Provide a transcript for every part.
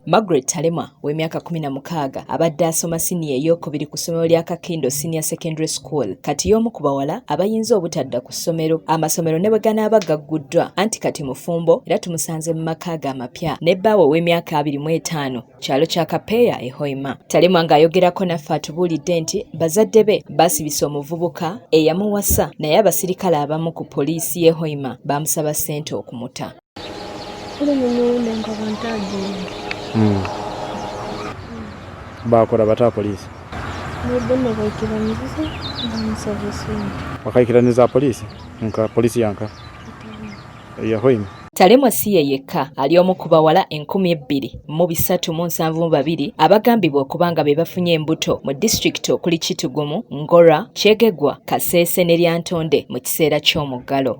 Margaret Talema w'emyaka kumi na mukaaga abadde asoma siniya eyokubiri ku ssomero lya Kakindo Senior Secondary School kati y'omu ku bawala abayinza obutadda ku ssomero amasomero ne bwe ganaaba gagguddwa anti kati mufumbo era tumusanze mu maka ge amapya ne bbaawe ow'emyaka abiri mu etaano kyalo kya Kapeeya e Hoima. Talema ng'ayogerako naffe atubuulidde nti bazadde be baasibisa omuvubuka eyamuwasa naye abasirikale abamu ku poliisi y'e Hoima baamusaba ssente okumuta. hmm. bakola bata polisi bakaikiraniza polisi nka polisi yanka yahoima Talemwa si ye yekka ali omu ku bawala enkumi ebbiri mu bisatu mu nsanvu mu babiri abagambibwa okuba nga be bafunye embuto mu disitulikiti okuli Kitugumu, Ngora, Kyegegwa, Kasese ne Lyantonde mu kiseera ky'omuggalo.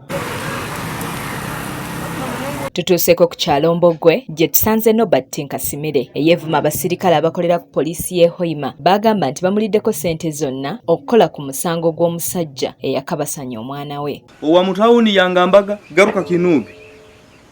tutuuseko ku kyalo mbogwe gye tusanze nobert nkasimire eyeevuma abasirikale abakolera ku poliisi y'e hoima baagamba nti bamuliddeko ssente zonna okukola ku musango gw'omusajja eyakabasanya omwana we owa mutawuni yangambaga garuka kinuubi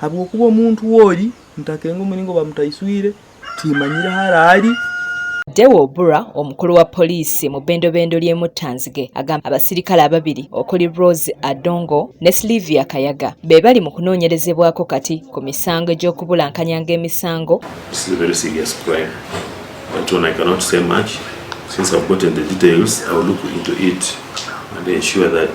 habwokuba omuntu woli ntakenga omulingo bamutaiswire timanyire hara ali Deo Obura omukulu wa poliisi mu bendobendo ly'e Muttanzige agamba abasirikale ababiri okuli Rose Adongo ne Sylvia Kayaga be bali mu kunoonyerezebwako kati ku misango egy'okubulankanya ng'emisango Since I've gotten the details, I'll look into it and ensure that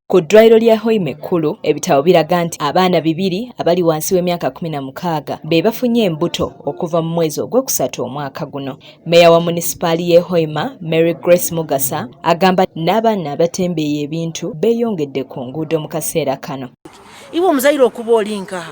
Ku ddwaliro lya Hoima ekkulu ebitabo biraga nti abaana bibiri abali wansi w'emyaka kumi na mukaaga be bafunye embuto okuva mu mwezi ogwokusatu omwaka guno. Meeya wa munisipaali y'e Hoima, Mary Grace Mugasa agamba n'abaana abatembeeya ebintu beeyongedde ku nguudo mu kaseera kano. Iwe omuzayiro okuba oli nkaha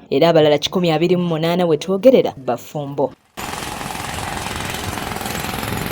era abalala kikumi abiri mu munaana wetwogerera bafumbo.